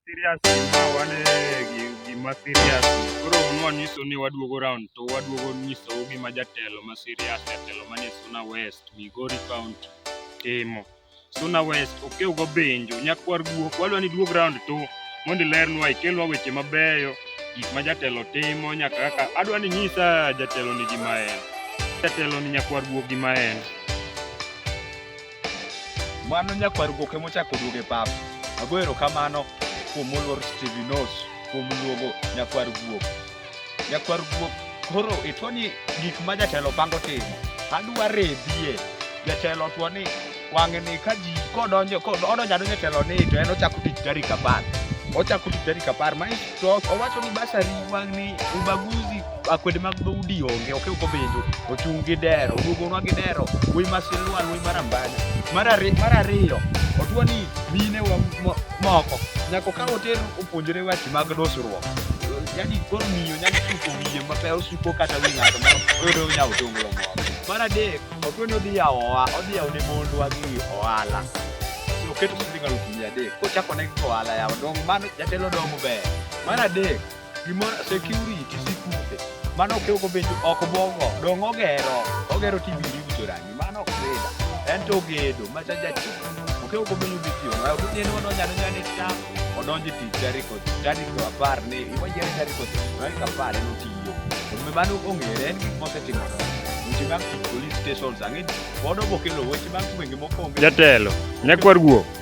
serious ma wan gima serious koro nwanyiso ni waduogo round to waduogo nyisou gima jatelo ma serious jatelo manie Suna West, Migori County timo. Suna West okewgo benjo nyakwar guok wadwa ni duog round to mondo ilernwa ikelnwa weche mabeyo gik ma jatelo timo nyaka kaka adwa ni nyisa jatelo ni gima en jatelo ni nyakwar guok gima en Mano nyakwar goke mochako duoge pap. Ago erokamano kuom moluor Steve Nos kuom luogo nyakwar guok. Nyakwar guok koro itwo ni gik ma jatelo pango timo. Adwa rebie. Jatelo two ni wang'e ni ka ji kodonjo kodonjo adonjo telo ni to en ochako tich tarik apar. Ochako tich tarik apar. Manyiso to owacho ni basari wang'ni ubaguzi. akwede mag dhoudi onge ok ok obenjo ochung' gi dero duogonwa gi dero wuoy ma silwal wuoy mar ambanya mar ari- mar ariyo otwa ni mine wa mo- moko nyako ka oter opuonjore weche mag dusruok yani koro miyo nyalo suko wiye mape osuko kata wi ng'ato ma oyudo nyawo tonglo moro mar adek otwa ni odhi yawo oha- odhi yawo ne mondwa gi ohala oketo siling alufu mia adek kochako ne gi ohala yawo dongo mano jatelo dongo ber mar adek Gimoro security sikunde. Mano ok ogo bedo ok bogo. Dong ogero. Ogero TV yuto rangi. Mano ok bedo. En to gedo ma cha jati. Ok ogo bedo bitio. Ma ok nyeno no nyano nyane ta. Odonje ti jari ko jari ko apar ne. Iwa jari jari ko jari ko apar ne tiyo. Omi mano ongere en gik mose timo. Weche mag police stations ang'e. Bodo bokelo weche mag gwenge mokonge. Jatelo, nyakwar guok.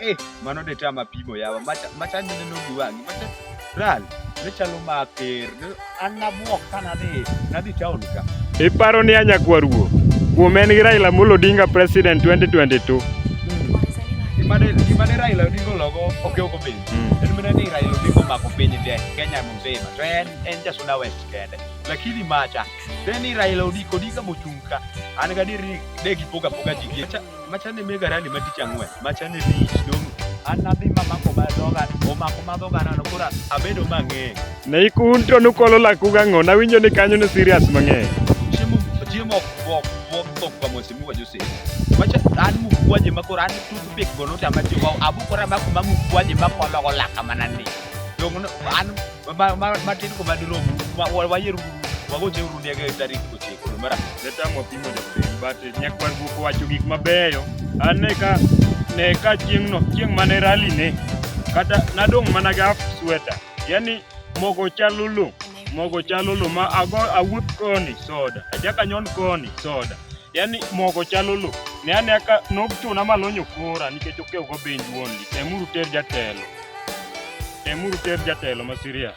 Eh, mano de chama pimo yawa. Macha macha nene no giwangi. Macha ral. Ne chalo ma ter. An na buok kana de. Na di town ka. Iparo ni anya kwaruo. Kuom en gi Raila Amolo Odinga president 2022. Imane imane Raila Odinga logo oke oko piny. Hmm. En mene ni Raila Odinga mako piny de Kenya mzima. To en en jasuna west kende. Lakini macha. Then Raila Odinga Odinga mochunka. An ga diri de gipoga poga jigie. Machane me garani ma tich ang'wen, machane tich dong' an nadhi mamako ma dhoga, omako ma dhoga nano koro abedo mang'eng'. Ne ikun to nukolo laku gang'o? Nawinjo ni kanyo ni serious mang'eny. Chiemo chiemo ok bok bok bok kwa mwese mi wajo sisi. Macha an mukwaje ma koro an tutu pek gono tama jiwa abukora ma kuma mukwaje ma kolo go laka manani. Dong' no- an matin ko madirom wayier wagoche uru ndege e tarik ochiko mara netamwa pimo jabudeni but nyak mar guok wacho gik mabeyo an ne ka ne ka chieng'no chieng' mane rali ne kata nadong' mana gi half sweater yani mogo chalo lo mogo chalo lo ma ago awuoth koni soda achaka nyon koni soda yani mogo chalo lo ne ane aka nok chuna malonyo kora nikech okew go benj wuon temuru ter jatelo temuru ter jatelo ma serious